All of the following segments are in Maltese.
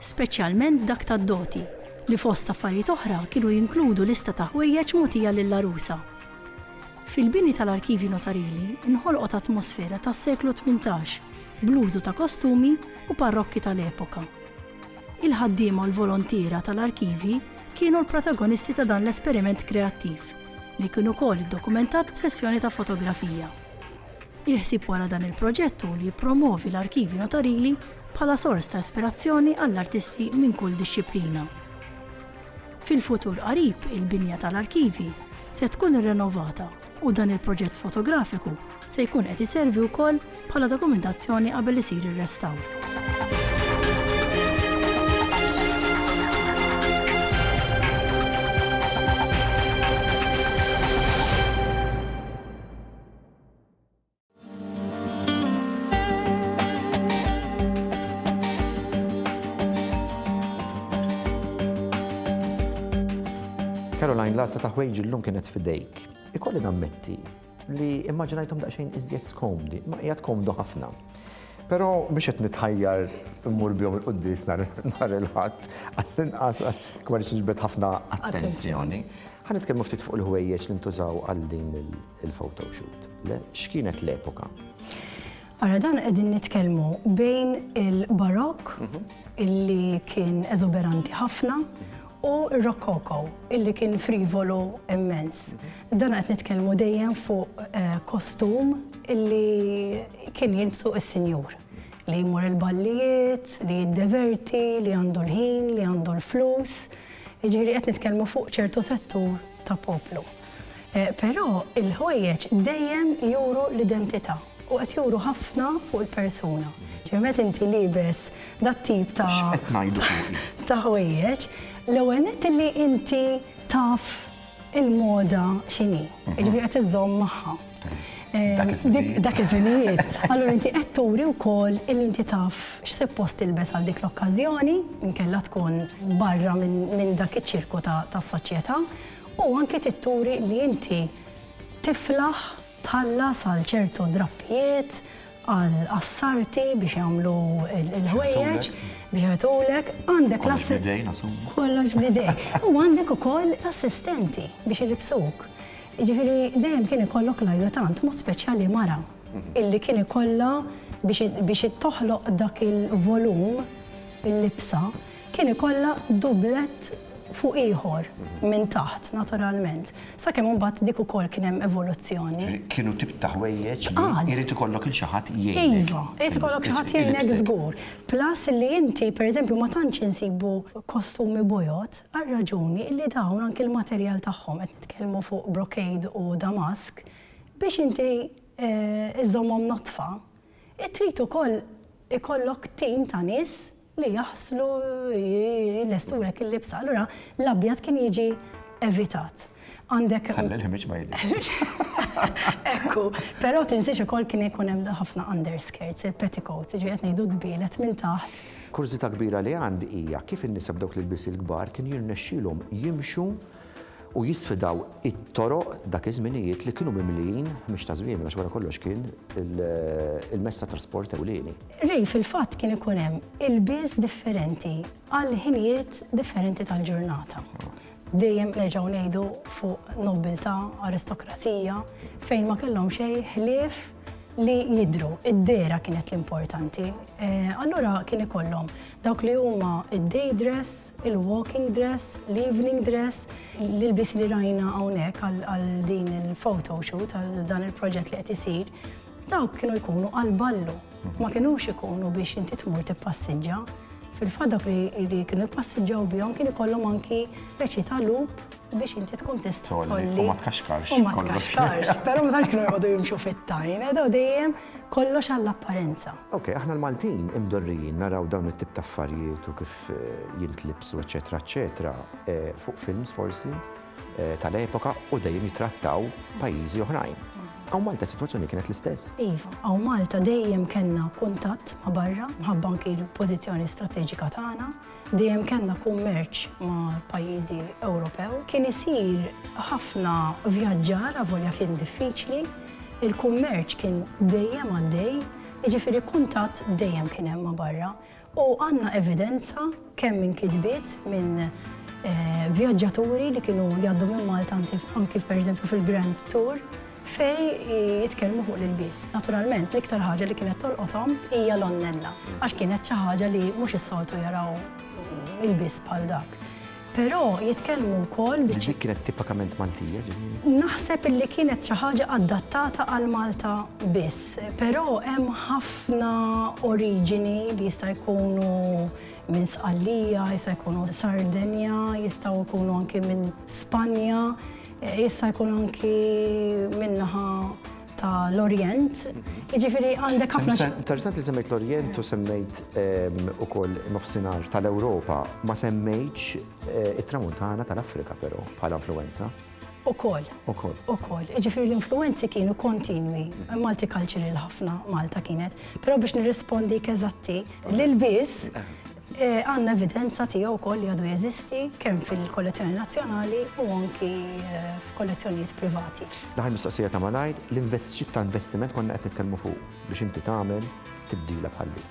speċjalment dak tad-doti, li fost affarijiet oħra kienu jinkludu lista ta' ħwejjeġ mogħtija lill-għarusa. Fil-bini tal-arkivji notarili nħolqot atmosfera tas-seklu tmintax bl-użu ta' kostumi u parrokki tal-epoka. Il-ħaddiema u l-volontiera tal-arkivji kienu l-protagonisti ta' dan l-esperiment kreattiv, li kien ukoll iddokumentat b'sessjoni ta' fotografija. Il-ħsieb wara dan il-proġett hu li jippromwovi l-arkivji notarili bħala sors ta' ispirazzjoni għall-artisti minn kull dixxiplina. Fil-futur qarib il-binja tal-arkivji se tkun irrenovata u dan il-proġett fotografiku se jkun qed iservi wkoll bħala dokumentazzjoni qabel isir ir-restawr. Caroline, l-għasta ta' ħwejġi l-lum kienet fidejk. Ikolli nammetti li immaġinajtom daqxejn iżjed skomdi, ma jgħat komdu ħafna. Pero biex qed nitħajjar immur bjom il-quddis nar il-ħadd, għall-inqas kmar ġbed ħafna attenzjoni. Ħan nitkellmu ftit fuq il-ħwejjeġ li ntużaw għal din il- il-photo shoot. Le, x'kienet l-epoka? Ara dan qegħdin nitkellmu bejn il-barokk mhm. illi kien eżoberanti ħafna mhm u Rokoko, illi kien frivolu immens. Dan qed nitkellmu dejjem fuq eh, kostum illi kien jilbsu is-sinjur li jmur il-ballijiet, li jiddeverti, li għandu l-ħin, li għandu l-flus. Ġiri qed nitkellmu fuq ċertu settur ta' poplu. Però il-ħwejjeġ dejjem juru l-identità u qed juru ħafna fuq il-persuna. Ġifieri meta inti liebes dat-tip ta' X'qed ngħidu fuqi? ta' ħwejjeġ, l-ewwel nett illi inti taf il-moda x'inhi. Jiġifieri qed iżżomm magħha. Dak iż-żminijiet. Dak iż-żminijiet. Allura inti qed turi wkoll illi inti taf x'suppost tilbes għal dik l-okkażjoni, inkella tkun barra minn dak iċ-ċirku tas-soċjetà. U anki trid turi li inti tiflaħ tħallas għal ċertu drappijiet, għal qassarti biex jagħmlu l-ħwejjeġ, biex jagħtulek, għandek l-assistenti. Kollox b'idejk. U għandek ukoll l-assistenti biex ilibsuk. Ġifieri dejjem kien ikollok l-ajjutant, mod speċjali mara, illi kien ikollha biex toħloq dak il-volum il-libsa. kien ikollha dublett fuq ieħor minn taħt naturalment, sakemm imbagħad dik ukoll kien hemm evoluzzjoni. Kienu tip ta' ħwejjeġ li jrid ikollok il xi ħadd jgħinek. Iva, irid ikollok xi ħadd jgħinek żgur. Plus li inti pereżempju ma tantx insibu kostumi bojod għal raġuni li dawn anki l-materjal tagħhom, qed nitkellmu fuq brocade u damask, biex inti żżommhom nodfa, trid ukoll ikollok tim ta' nies li jaħslu jlestulek il-libsa, allura l-abjad kien jiġi evitat. Għandek. Ħalli l-ħmiġ ma jidhirx. Ekku, però tinsiex ukoll kien ikun hemm ħafna underskirts, il-petticoats, ġifieri qed ngħidu dbielet minn taħt. Kurżità kbira li għandi hija kif in-nisa b'dawk l-ilbies il-kbar kien jirnexxielhom jimxu u jisfidaw it-toroq dak iż-żminijiet li kienu mimlijin mhix ta' żwiemel għax wara kollox kien il-mezz ta' trasport ewlieni. Ray fil-fatt kien ikun hemm ilbies differenti għal ħinijiet differenti tal-ġurnata. Dejjem nerġgħu ngħidu fuq nobbiltà, aristokrazija, fejn ma kellhom xejn ħlief li jidhru, id-dehra kienet l-importanti. Allura kien ikollhom dawk li huma d-day dress, il-walking dress, l-evening dress, l-ilbis li rajna hawnhekk għal din il-photo shoot, għal dan il-proġett li qed isir, dawk kienu jkunu għal ballu. Ma kienux ikunu biex inti tmur tippassiġġa. Fil-fadak li kienu jpassiġġaw bihom kien ikollhom anki peċi ta' lup biex inti tkun tista' tolli. U ma tkaxkarx. U ma tkaxkarx. Però ma tantx kienu jgħodu jimxu fit-tajn, edaw eh, dejjem kollox għall-apparenza. Ok, aħna l-Maltin imdorrijin naraw dawn it-tip ta' affarijiet u kif jintlibsu eċetera eċetera fuq films forsi tal-epoka u dejjem jitrattaw pajjiżi oħrajn. Għaw Malta situazzjoni kienet l-istess. Iva, għaw Malta dejjem kena kuntatt ma barra, mħabba anki l-pozizjoni strategika tagħna, dejjem kena kummerċ ma pajjiżi Ewropew. Kien isir ħafna vjaġġar avolja kien diffiċli, il-kummerċ kien dejjem għaddej, jiġifieri kuntatt dejjem kien hemm ma barra. U għandna evidenza kemm minn kitbiet minn vjaġġaturi li kienu jgħaddu minn Malta anki pereżempju fil-Grand Tour fejn jitkellmu fuq l-ilbies. Naturalment l-iktar ħaġa li kienet tolqothom hija l-onnella għax kienet xi ħaġa li mhux is-soltu jaraw ilbies bħal dak. Però jitkellmu wkoll bi. Li dik kienet tipakament Maltija, ġifieri. Naħseb illi kienet xi ħaġa adattata għal Malta biss. Però hemm ħafna oriġini li jista' jkunu minn Sqallija, jista' jkunu Sardenja, jistgħu jkunu anki minn Spanja, jista' jkun anki min-naħa ta' l-Orjent, jiġifieri għandek ħafna. Interessant li semmejt l-Orjent u semmejt ehm, ukoll nofsinhar tal-Ewropa, ma semmejtx eh, it-Tramuntana tal-Afrika però bħala influenza. Ukoll. Ukoll. Ukoll. Ġifieri l-influenzi kienu kontinwi. Malti cultural ħafna Malta kienet. Però biex nirrispondi keżatti lil biss eh. Għandna evidenza tiegħu wkoll li għadu jeżisti kemm fil-kollezzjoni nazzjonali u anki f'kollezzjonijiet privati. L-aħħar mistoqsija ta' malajr, l-x'tip ta' investiment konna qed nitkellmu fuqu biex inti tagħmel tibdila bħal din?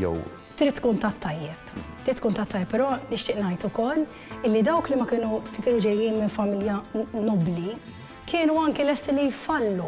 Jew. Trid tkun tat-tajjeb. Trid tkun tat-tajjeb, però nixtieq ngħid ukoll illi dawk li ma kienu, li kienu ġejjin minn familja nobbli, kienu anki lesti li jfallu.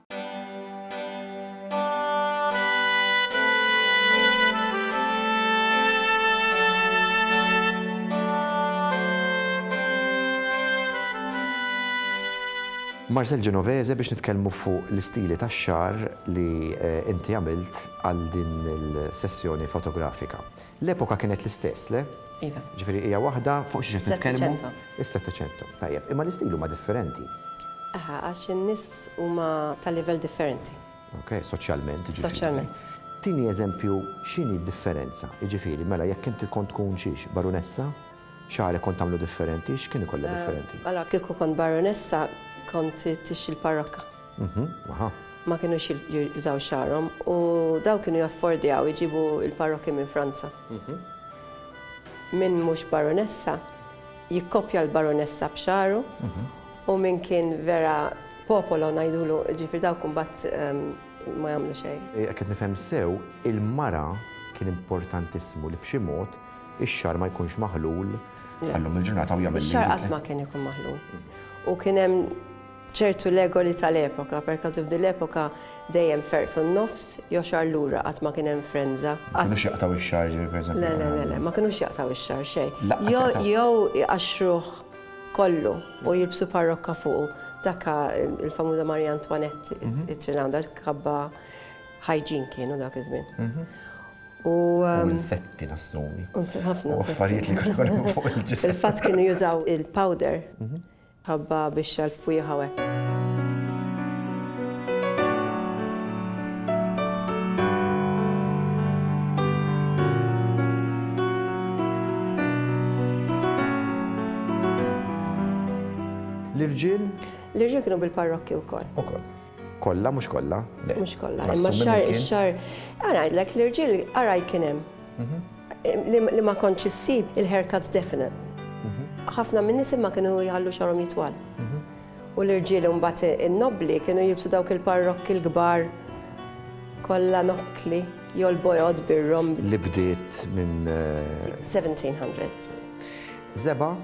Marcel Genovese biex nitkellmu fuq l-istili tax-xagħar li inti għamilt għal din il-sessjoni fotografika. L-epoka kienet l-istess, le? Iva. Ġifieri hija waħda fuq xi qed nitkellmu? Settecento. Is-Settecento, tajjeb. Imma l-istil huma differenti. Aha, għax in-nies huma ta' livell differenti. Ok, soċjalment, jiġifieri. Soċjalment. Tini eżempju x'inhi d-differenza? Jiġifieri, mela jekk inti kont tkun xiex, barunessa, xagħrek kont tagħmlu differenti, x'kien ikollha differenti? Allora kieku kont barunessa kont tixxi l-parrokka. Ma kinux jużaw xagħarhom u dawn kienu jaffordjaw iġibu l-parokki minn Franza. Min mhux baronessa jikkopja l-baronessa b'xagħru u min kien vera popolo ngħidulu, ġifieri dawk imbagħad ma jagħmlu xejn. Jekk qed nifhem sew, il-mara kien importantissimu li b'xi mod ix-xagħar ma jkunx maħlul sal-lum il-ġurnata u jagħmel. Ix-xagħar qatt ma kien ikun maħlul u kien hemm. ċertu legoli tal-epoka, perkażu f'din l-epoka dejjem ferq fin-nofs jew xahar lura qatt ma kien hemm frenża. Ma kinux jaqtgħu x-xagħar, jiġifieri pereżempju. Le, le, le, le, ma kinux jaqtgħu x-xagħar xejn. Lanqas jaqtgħu. Jew, jew iqaxxruh kollu u jilbsu parrokka fuqu. Dak ka l-famuża Marie Antoinette it-Trilawn, dak kabba ħajġin kienu dak iż-żmien. U. U l-setti nassumi. U nsir ħafna. U affarijiet li kienu fuq il-ġisem. Fil-fatt kienu jużaw il-powder. Ħabba bixxa l-fwieħ hawnhekk. L-irġiel? L-irġiel kienu bil-parrokki wkoll. Ukoll. Kollha mhux kollha. Mhux kollha, imma xar xar. Ara ngħidlek l-irġiel ara kien hemm. Mhm. Li ma kontx issib il-haircuts definite. Mhm. Ħafna minn nisim ma kienu jħallu xarhom jitwal. Mhm. U l-irġiel imbagħad in-nobli kienu jibsu dawk il-parrokki l-kbar kollha nokkli jolbojod birrom. Li bdiet minn 1700. Eh, Zeba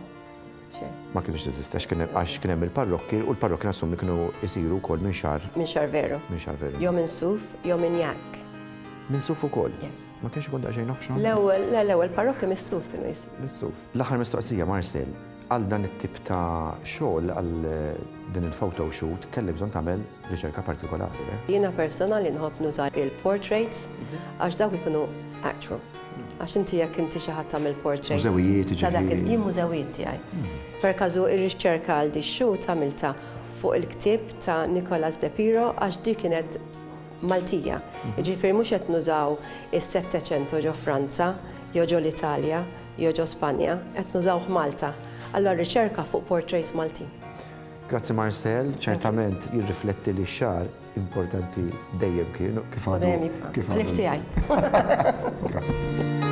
Ma kienx teżista x'kien hemm għax kien hemm il-parrokki u l-parrokki nassum li kienu jsiru wkoll minn xar. Minn xar veru. Minn xar veru. Jew minn suf, jew minn jak. Minn suf ukoll? Yes. Ma kienx ikun daqsxejn oħxon? L-ewwel, l-ewwel parrokki mis-suf kienu jis. Mis-suf. L-aħħar mistoqsija Marcel, għal dan it-tip ta' xogħol għal din il-photo shoot kelli bżonn tagħmel riċerka partikolari. Jiena personali nħobb nuża il-portraits mhm. għax dawk ikunu actual. Għax inti jekk inti xi ħadd tagħmel portrait. Mużewijiet jiġifieri. Jien mużewijiet tiegħi. Per każu r-rixċerka għal di x-shoot għamiltha fuq il-ktieb ta' Nicolas De Piro għax di kienet Maltija. Jiġifieri mhux qed nużaw is-Settecento ġo Franza, jew ġo l-Italja, jew ġo Spanja, qed nużawh Malta. Allura r-riċerka fuq portraits Maltin. Grazzi Marcel, ċertament jirrifletti li x-xagħar Importanti dejjem kien kif għadu. Dejjem jibqa'. Kif għadu. L-iftijaj. Grazie.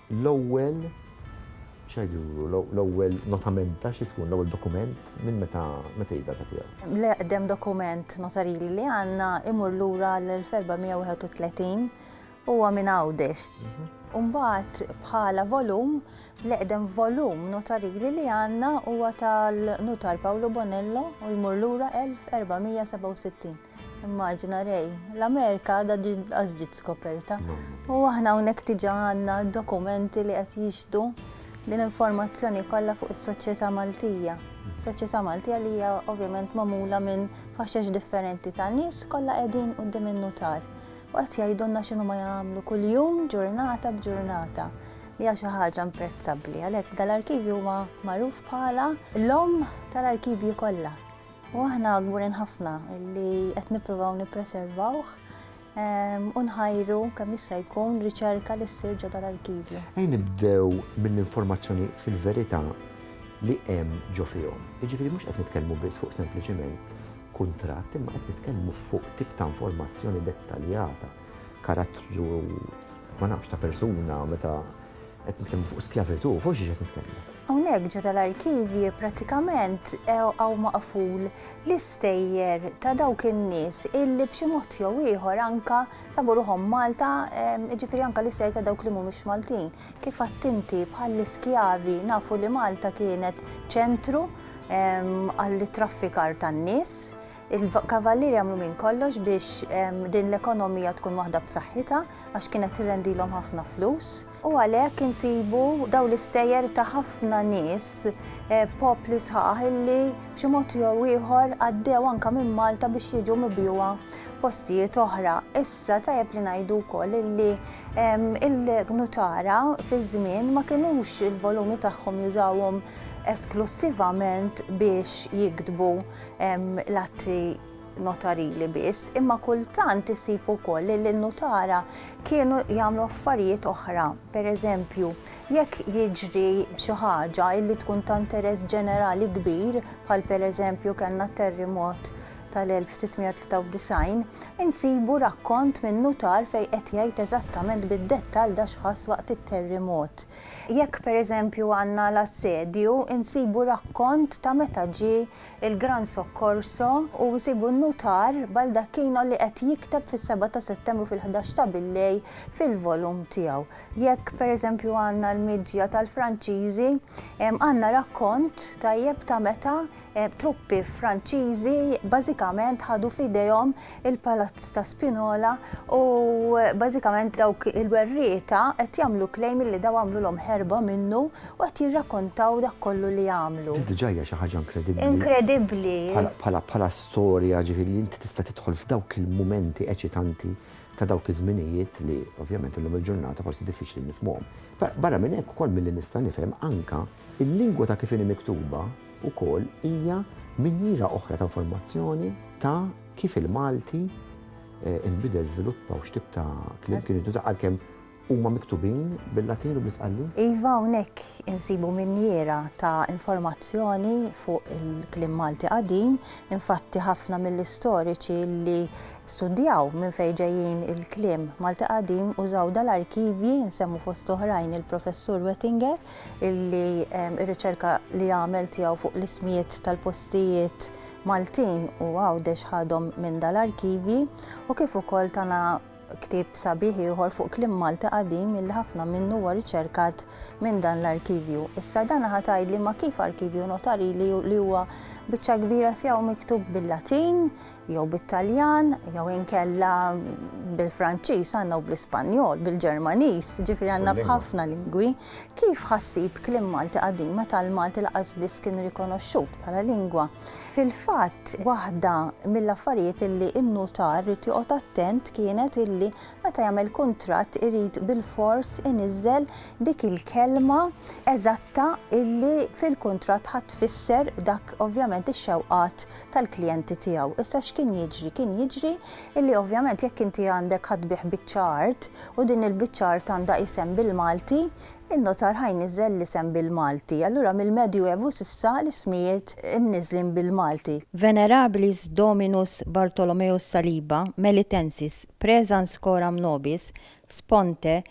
L-ewwel x'għad juru? L-ewwel notamenta xi tkun? L-ewwel dokument? Minn meta meta hi d-data tiegħu? L-eqdem dokument notarili li għandna imur lura għal 1431, huwa minn Għawdex. U mbagħad bħala volum, l-eqdem volum notarili li għandna huwa tal-Nutar Pawlu Bonello u jmur lura 1467. Immaġina Ray, l-Amerika għadha ġinqas ġiet skoperta. U aħna hawnhekk diġà għandna dokumenti li qed jixdu din informazzjoni kollha fuq is-soċjetà Maltija. Soċjetà Maltija li hija ovvjament magħmula minn faxex differenti ta' nies kollha qegħdin quddiem in-nutar. U qed jgħidulna x'inhu ma jagħmlu kuljum ġurnata b'ġurnata li hija xi ħaġa imprezzabbli. Għalhekk dal-arkivju huwa magħruf bħala l-omm tal-arkivji kollha. U aħna gburin ħafna li qed nippruvaw nippreservawh u nħajru kemm jista' jkun riċerka li ssir ġo dal-arkivju. Ejn nibdew mill-informazzjoni fil-verità li hemm ġo fihom. Jiġifieri mhux qed nitkellmu biss fuq sempliċiment kuntratt imma qed nitkellmu fuq tip ta' informazzjoni dettaljata, karattru ma nafx ta' persuna meta Qed nitkellmu fuq skjavitu, fuq xi qed nitkellmu? Hawnhekk ġo tal-arkivji prattikament hawn maqful l-istejjer ta' dawk in-nies illi b'xi mod jew ieħor anka sabu ruħhom Malta, jiġifieri anka l-istejjer ta' dawk li mhumiex Maltin. Kif għadt inti bħall-iskjavi nafu li Malta kienet ċentru għall-traffikar tan-nies, Il-Kavallieri għamlu minn kollox biex din l-ekonomija tkun waħda b'saħħitha għax kienet tirrendilhom ħafna flus. U għalhekk insibu dawn l-istejjer ta' ħafna nies, popli sħaħ illi b'xi mod jew ieħor għaddew anke minn Malta biex jiġu mibjugħa postijiet oħra. Issa tajjeb li ngħidu wkoll illi il-Nutara fiż-żmien ma kinux il-volumi tagħhom jużawhom esklussivament biex jiktbu. hemm l-atti notarili biss, imma kultant isib ukoll li l-nutara kienu jagħmlu affarijiet oħra. Per eżempju, jekk jiġri xi ħaġa illi tkun ta' interess ġenerali kbir, bħal per eżempju kellna terrimot tal-1693, insibu rakkont minn nutar fejn qed jgħid eżattament bid-dettall da x'ħass waqt it-terrimot. Jekk pereżempju għandna l-Assedju, insibu rakkont ta' meta ġie l-Gran Soccorso u nsibu n-nutar Baldacchino li qed jikteb fis-seba' ta' Settembru fil-ħdax ta' billejl fil-volum tiegħu. Jekk pereżempju għandna l-miġja tal-Franċiżi, għandna rakkont tajjeb ta' meta Truppi Franċiżi bażikament ħadu f'idejhom il-Palazz ta' Spinola u bażikament dawk il-werrieta qed jagħmlu claim li daw għamlulhom ħerba minnu u qed jirrakkontaw dak kollu li għamlu. Di diġà hija xi ħaġa inkredibbli. Inkredibbli. Bħala bħala storja ġifieri li inti tista' tidħol f'dawk il-mumenti eċitanti ta' dawk iż-żminijiet li ovvjament illum il-ġurnata forsi diffiċli nifhmuhom. Barra minn hekk ukoll milli nista' nifhem anke Il-lingwa ta' kif inhi miktuba wkoll hija minjiera oħra ta' informazzjoni ta' kif il-Malti inbidel, żviluppa u x'tip ta' kliem kien jintuża għalkemm huma miktubin bil-Latin u bl-Isqalli. Iva, hawnhekk insibu minjiera ta' informazzjoni fuq il-kliem Malti qadim. Infatti ħafna mill-istoriċi li studjaw minn fejn ġejjin il-kliem Malti qadim użaw dal-arkivji, insemmu fost oħrajn il-Professur Wettinger, illi r-riċerka li għamel tiegħu fuq l-ismijiet tal-postijiet Maltin u Għawdex ħadhom minn dal-arkivji u kif ukoll tana ktieb sabiħ ieħor fuq kliem Malti qadim illi ħafna minnu huwa riċerkat minn dan l-arkivju. Issa dan ħa tgħidli ma kif arkivju notarili li huwa biċċa kbira tiegħu miktub bil-Latin jew bit-Taljan, jew inkella bil-Franċiż għandna u bl-Ispanjol, bil-Ġermaniż, ġifieri għandna b'ħafna lingwi. Kif ħassib kliem Malti qadim meta l-Malti laqas biss kien rikonoxxut bħala lingwa? Fil-fatt, waħda mill-affarijiet illi n-nutar rid joqgħod attent kienet illi meta jagħmel kuntratt irid bilfors iniżżel dik il-kelma eżatta illi fil-kuntratt ħa tfisser dak ovvjament ix-xewqat tal-klijenti tiegħu. Issa x'kien jiġri? Kien jiġri illi ovvjament jekk inti għandek ħadd tbigħ biċċa art u din il-biċċa art għandha isem bil-Malti, in-notar ħa jniżżel l-isem bil-Malti. Allura mill-Medju Evu s'issa l-ismijiet imniżżlin bil-Malti. Venerabilis Dominus Bartholomeus Saliba, Melitensis, Praesens coram nobis, Sponte,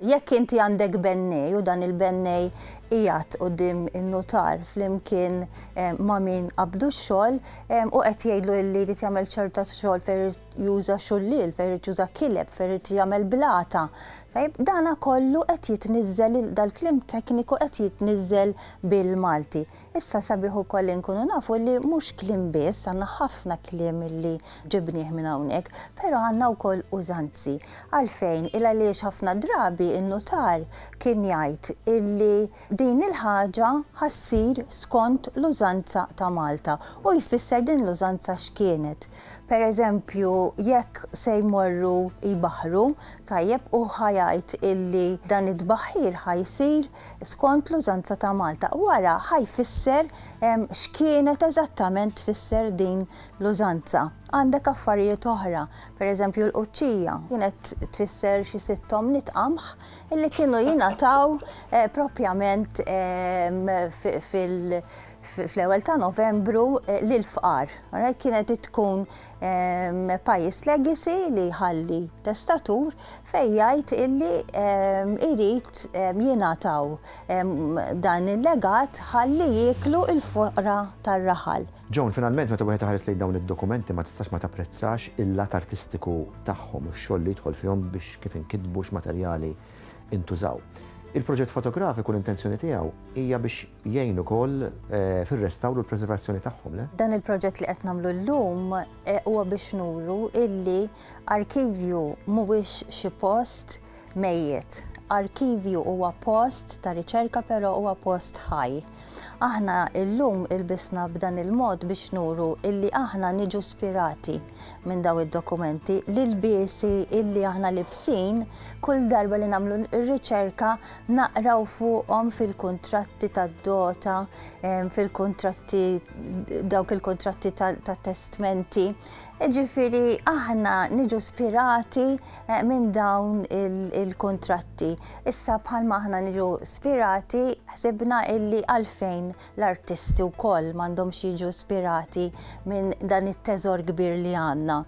Jekk inti għandek bennej u dan il-bennej qiegħed quddiem in-nutar flimkien ma' min qabdu x-xogħol u qed jgħidlu li jrid jagħmel ċerta xogħol fejn irid juża xulliel, fejn irid juża kileb, fejn irid jagħmel blata, tajjeb, dana kollu qed jitniżżel, dal-kliem tekniku qed jitniżżel bil-Malti. Issa sabiħ ukoll li nkunu nafu li mhux kliem biss, għandna ħafna kliem li ġibnieh minn hawnhekk, però għandna wkoll użanzi. Għalfejn? Il-għaliex ħafna drabi n-nutar kien jgħid illi din il-ħaġa ħa ssir skont l-użanza ta' Malta u jfisser din l-użanza x'kienet. Per eżempju, jekk se jmorru jbaħħru, tajjeb, hu ħa jgħid illi dan it-tbaħħir ħa jsir skont l-użanza ta' Malta. U ara ħa jfisser x'kienet eżattament tfisser din l-użanza. Għandek affarijiet oħra, pereżempju l-quċċija kienet tfisser xi sitt omniet qamħ li kienu jingħataw eh, propjament fil- fl-ewwel ta' Novembru eh, lil fqar. Kienet tkun pajjiż legacy li jħalli testatur fejn jgħid illi irid jingħataw dan il-legat ħalli jieklu l-foqra tar-raħal. Joan, finalment meta wieħed iħares lejn dawn id-dokumenti ma tistax ma tapprezzax il-lat artistiku tagħhom u x-xogħol li jidħol fihom biex kif inkitbu x'materjali intużaw. Il-proġett fotografiku l-intenzjoni tiegħu hija biex jgħin ukoll fir-restawr u l-preservazzjoni tagħhom, le? Dan il-proġett li qed nagħmlu llum huwa biex nuru illi arkivju mhuwiex xi post mejjet. Arkivju huwa post ta' riċerka però huwa post ħaj. Aħna llum ilbisna b'dan il-mod biex nuru illi aħna niġu spirati minn dawn id-dokumenti, l-ilbiesi illi aħna libsin kull darba li nagħmlu r-riċerka naqraw fuqhom fil-kuntratti tad-dota, fil-kuntratti dawk il-kuntratti tat-testmenti. Ġifieri aħna niġu spirati eh, minn dawn il-kuntratti. Issa bħalma aħna niġu spirati ħsibna illi għalfejn L-artisti wkoll m'għandhomx jiġu ispirati minn dan it-teżor kbir li għandna.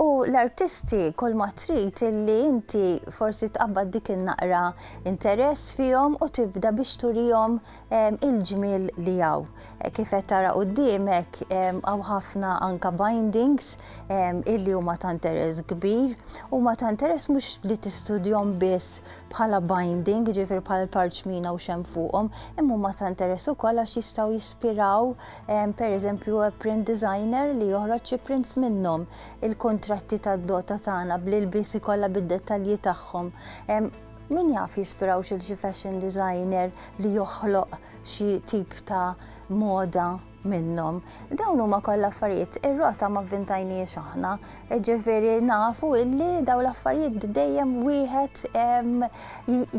U l-artisti kulma trid illi inti forsi tqabbad dik in-naqra interess fihom u tibda biex turihom ehm, il-ġmiel li hawn. Eh, kif qed tara quddiemek ehm, hawn ħafna anka bindings ehm, illi huma ta' interess kbir, huma ta' interess mhux li tistudjhom biss bħala binding, jiġifieri bħala l-parċmina u xem fuqhom, imma huma ta' interess ukoll għax jistgħu jispiraw ehm, pereżempju print designer li joħroġ xi prints minnhom. Il-kuntratti tad-dota tagħna bl-ilbiesi kollha bid-dettalji tagħhom. Ehm, min jaf jispiraw xil xi fashion designer li joħloq xi tip ta' moda minnhom. Dawn huma kollha affarijiet ir-rota ma vvintajniex aħna, ġifieri nafu illi daw l-affarijiet dejjem wieħed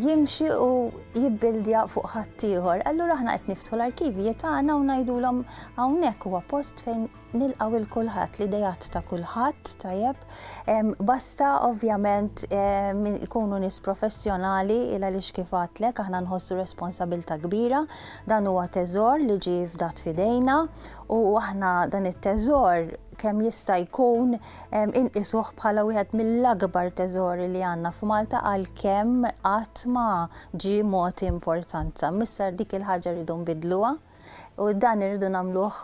jimxi u jibbildja fuq ħaddieħor. Allura aħna qed niftħu l-arkivji tagħna u ngħidulhom hawnhekk huwa post fejn nilqgħu lil kulħadd, l-ideat ta' kulħadd, tajjeb, basta ovvjament ikunu nies professjonali il għaliex kif għedtlek aħna nħossu responsabilità kbira. Dan huwa teżor li ġie fdat f'idejna u aħna dan it-teżor kemm jista' jkun inqisuh bħala wieħed mill-akbar teżori li għandna f'Malta għalkemm qatt ma ġie mogħti importanza. Missa dik il-ħaġa rridu nbidluha u dan irridu nagħmluh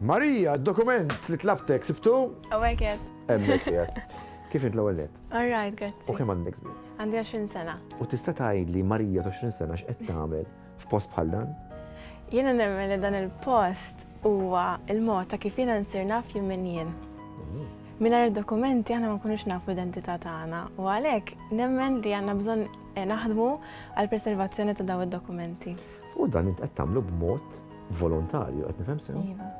Marija, d-dokument li tlabtek sibtu? Hawnhekk qiegħed. Hemmhekk qiegħed. Kif int l-ewwel nett? All right, grazzi. U kemm għandek żmien? Għandi 20 sena. U tista' tgħidli Marija ta' 20 sena x'qed tagħmel f'post bħal dan? Jiena nemmen li dan il-post huwa l-mod ta' kif jiena nsir naf jien min jien. Mm. Mingħajr dokumenti aħna ma nkunux nafu identità tagħna u għalhekk nemmen li għandna bżonn eh, naħdmu għall-preservazzjoni ta' daw id-dokumenti. U dan int qed tagħmlu b'mod Volontarju, qed nifhem sew? Iva.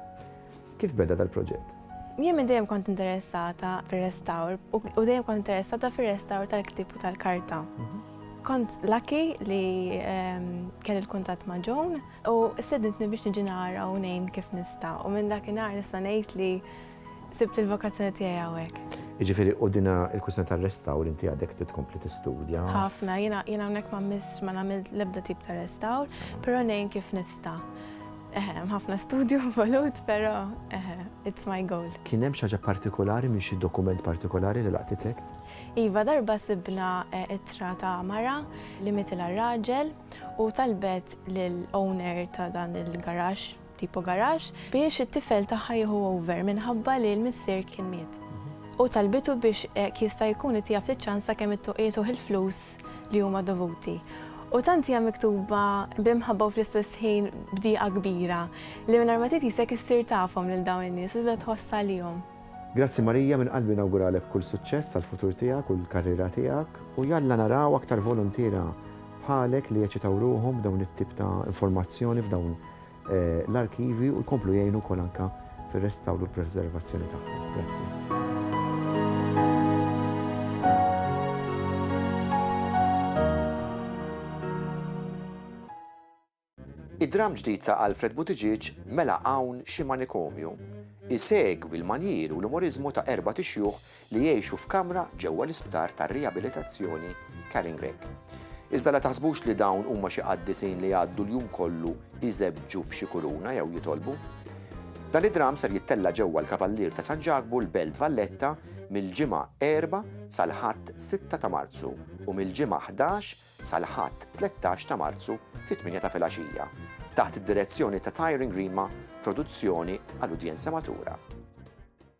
Kif beda dal-proġett? Jien minn dejjem kont interessata fir-restawr u dejjem kont interessata fir-restawr tal-ktib u tal-karta. Mhm. Kont lucky li ehm, kelli l-kuntatt ma' Joan u sedintni biex niġi nara u ngħin kif nista' u minn dakinhar nista' ngħid li Sibt il-vokazzjoni tiegħi hawnhekk. Jiġifieri u dina il-kwistjoni tar-restawr inti għadek titkompli tistudja. Ħafna, jiena hawnhekk ma miss ma nagħmel l-ebda tip ta' restawr, però ngħin kif nista'. Eħe, ħafna studju involut, però eħe, it's my goal. Kien hemm xi ħaġa partikolari minn xi dokument partikolari li laqtitek? Iva, darba sibna eh, ittra ta' mara li mitilha raġel u talbet lill-owner ta' dan il-garax tipo garage, biex it-tifel tagħha jieħu over minħabba li l-missier kien miet. U talbitu biex jekk jista' jkun ittiha ftit ċans sakemm ittuqietuh il-flus li huma dovuti. U tant hija miktuba b'imħabba u fl-istess ħin b'dieqa kbira li mingħajr ma titisek issir tafhom lil dawn in-nies u tibda tħoss għalihom. Grazzi Marija, minn qalbi nawguralek kull suċċess għall-futur tiegħek u l-karriera tiegħek u jalla naraw aktar voluntiera bħalek li jeċitaw ruħhom b'dawn it-tip ta' informazzjoni f'dawn l-arkivji u jkomplu jgħinu wkoll anke fir-restawr u l-preservazzjoni tagħhom. Grazzi. Id-dramm ġdid ta' Alfred Buttigieg mela hawn xi manikomju isegwi l-manjier u l-umoriżmu ta' erbat ixjuħ li jgħixu f'kamra ġewwa l-isptar tar-riabilitazzjoni Caringreek. Iżda la taħsbux li dawn huma xi qaddisin li jgħaddu l-jum kollu jżebbġu f'xi kuruna jew jitolbu. Dan id-dramm ser jittella' ġewwa l-Kavallier ta' San Ġakbu l-Belt Valletta mill-Ġimgħa 4 sal-Ħadd 6 ta' Marzu u mill-Ġimgħa 11 sal-Ħadd 13 ta' Marzu fit-8 ta' filgħaxija taħt id-direzzjoni ta' Tyring Rima Produzzjoni għal udjenza matura.